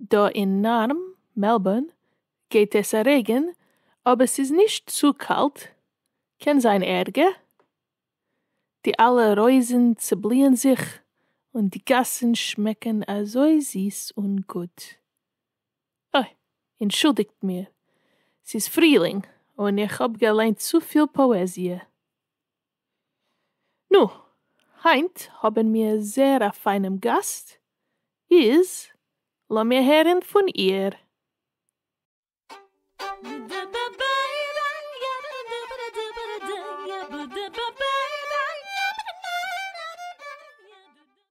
דא אין נארם, מעלבורן, גייט עס א רעגען אבער ס'איז נישט צו קאלט, קען זיין ערגער, די אלע רויזען צובליען זיך און די גאסען שמעקען אזוי זיס און גוט. אוי, אינטשולדיגט מיר, ס'איז פרילינג און איך האב געליינט צופיל פאעזיע. נו, היינט האבן מיר זעהר א פיינעם גאסט, איז לאמיר הערן פון איר.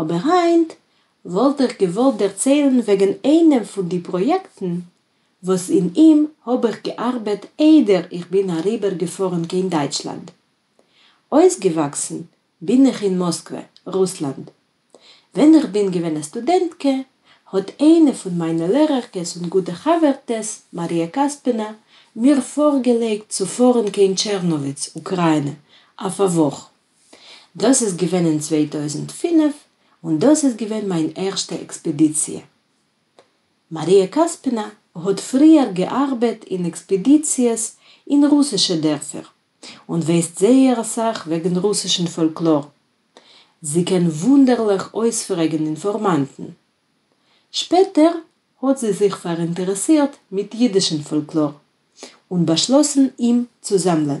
אבער היינט וואלט איך געוואלט דערציילן וועגן איינעם פון די פראיעקטן וואס אין אים האב איך געארבעט איידער איך בין אריבער געפארן קיין דייטשלאנד. אויסגעוואקסן בין איך אין מאסקווע, רוסלאנד. ווען איך בין געווען א סטודענטקע האט איינע פון מיינע לערערקעס און גוטע חבר'טעס, מאריע קאספענא, מיר פארגעלייגט צו פארן קיין טשערנאוויץ, אוקריינע, אויף א וואך. דאס איז געווען אין צוויי טויזנט פֿינף און דאס איז געווען מיין ערשטע עקספעדיציע. מאריע קאספינא האט פריער געארבעט אין עקספעדיציעס אין רוסישע דערפער און ווייסט זייער אסאך וועגן רוסישן פאלקלאר. זי קען וואונדערליך אויספרעגן אינפארמאנטן. שפעטער האט זי זיך פאראינטערעסירט מיט אידישן פאלקלאר און באשלאסן אים צו זאמלען.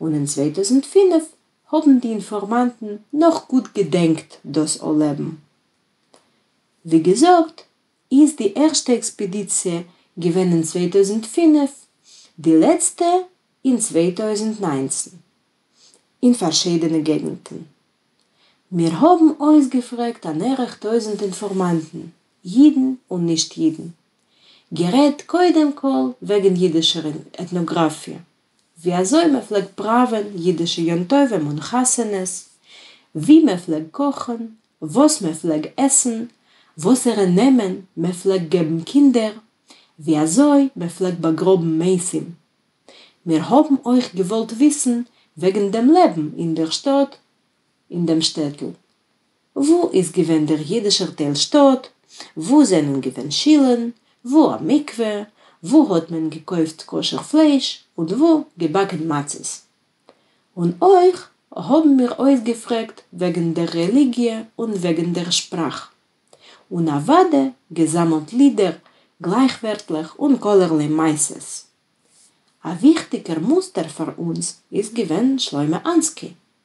און אין צוויי טויזנט פֿינף האבן די אינפארמאנטן נאך גוט געדענקט דאס אנלעבן. ווי געזאגט איז די ערשטע עקספעדיציע געווען אין צוויי טויזנט פֿינף, די לעצטע אין צוויי טויזנט נײַנצן, אין פארשידענע געגנטן. מיר האבן אויסגעפרעגט אן ערך טויזנט אינפארמאנטן, אידן און נישט אידן. גערעדט קודם כל וועגן אידישער עטנאגראפיע, ווי אזוי מען פלעגט פראווען אידישע יום טובים און חתונות, ווי מען פלעגט קאכן, וואס מען פלעג עסן, וואסערע נעמען מען פלעגט געבן קינדער, ווי אזוי מען פלעגט באגראבן מתים. מיר האבן אויך געוואלט וויסן וועגן דעם לעבן אין דער שטאט, אין דעם שטעטל. וואו איז געווען דער יידישער טייל שטאט? וואו זענען געווען שילן? וואו א מקווה? וואו האט מען געקויפט כשר פלייש און וואו געבאקן מצות? און אויך האבן מיר אויסגעפרעגט וועגן דער רעליגיע און וועגן דער שפראך. און אוודע געזאמלט לידער, גלייכווערטלעך און כלערליי מעשות. א וויכטיגער מוסטער פאר אונז איז געווען שלמה אנסקי,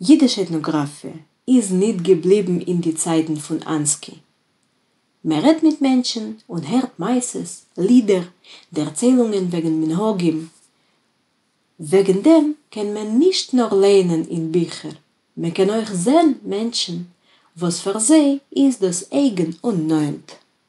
ייִדיש עטנאָגראַפֿיע איז ניט געבליבן אין די צײַטן פֿון אַנסקי. מע רעדט מיט מענטשן און הערט מעשׂות, לידער, דערציילונגען וועגן מינהגים. וועגן דעם קען מען נישט נאָר לייענען אין ביכער, מע קען אויך זען מענטשן, וואָס פֿאַר זיי איז דאָס אייגן און נאָענט.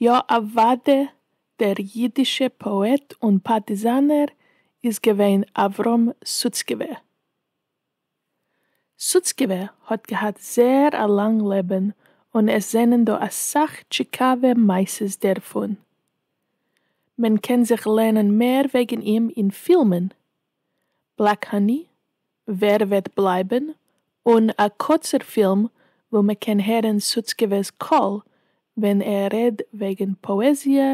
יא אוואדע דער אידישע פאעט און פארטיזאנער איז געווען אברהם סוצקעווע. סוצקעווע האט געהאט זעהר א לאנג לעבען און עס זענען דא אסאך טשיקאווע מעשות דערפון. מען קען זיך לערנען מער וועגען אים אין פילמען. בלעק האני, ווער וועט בלייבן, און א קוצער פילם וואו מען קען הערן סוצקעווע'ס קול ווען ער רעד וועגן פאעזיע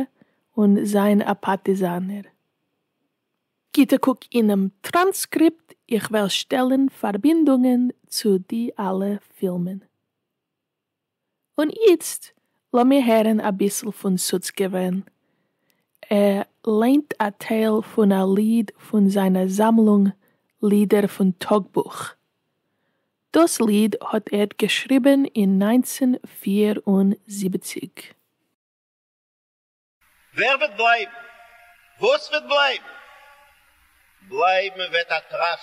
און זיין א פארטיזאנער. גוטע קוק אינעם טראנסקריפט, איך וועל שטעלן פארבינדונגען צו די אלע פילמען. און איצט לאמיר הערן אביסל פון סוצקעווען. ער ליינט א טייל פון א ליד פון זיינע זאמלונג לידער פון טאגבוך. דאס ליד האט ער געשריבן אין נײַנצן פֿיר און זיבעציק. ווער וועט בלייבן? וואס וועט בלייבן? בלייבן וועט א טראף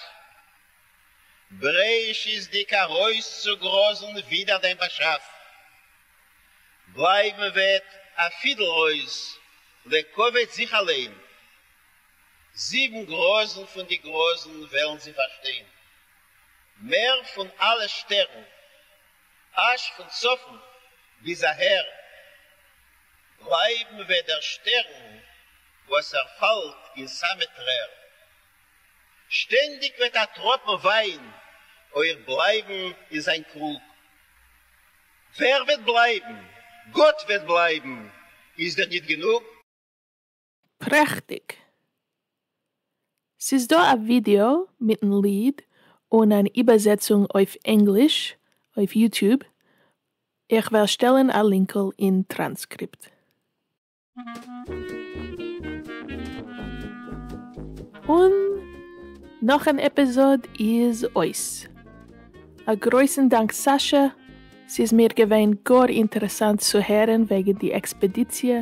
בראשית'דיג ארויסצוגראזן ווידער דעם באשאף, בלייבן וועט א פידל רויז לעקאוועט זיך אליין, זיבן גראזן פון די גראזן וועלן זי פארשטיין מער פון אלע שטערן. אַזש פֿון צפֿון ביז אַהער בלײַבן װעט דער שטערן, װאָס ער פֿאַלט אין סאַמע טרער. שטענדיק װעט אַ טראָפּן װײַן אױך בלײַבן אין זײַן קרוג. װער װעט בלײַבן? גאָט װעט בלײַבן! איז דיר ניט גענוג? פרעכטיג! ס'איז דא א ווידיאו מיטן ליד און אן איבערזעצונג אויף ענגליש אויף יוטיוב, איך וועל שטעלן א לינקל אין טראנסקריפט. און נאך אן עפיזאד איז אויס. א גרויסן דאנק סאשא, ס'איז מיר געווען גאר אינטערעסאנט צו הערן וועגן די עקספעדיציע.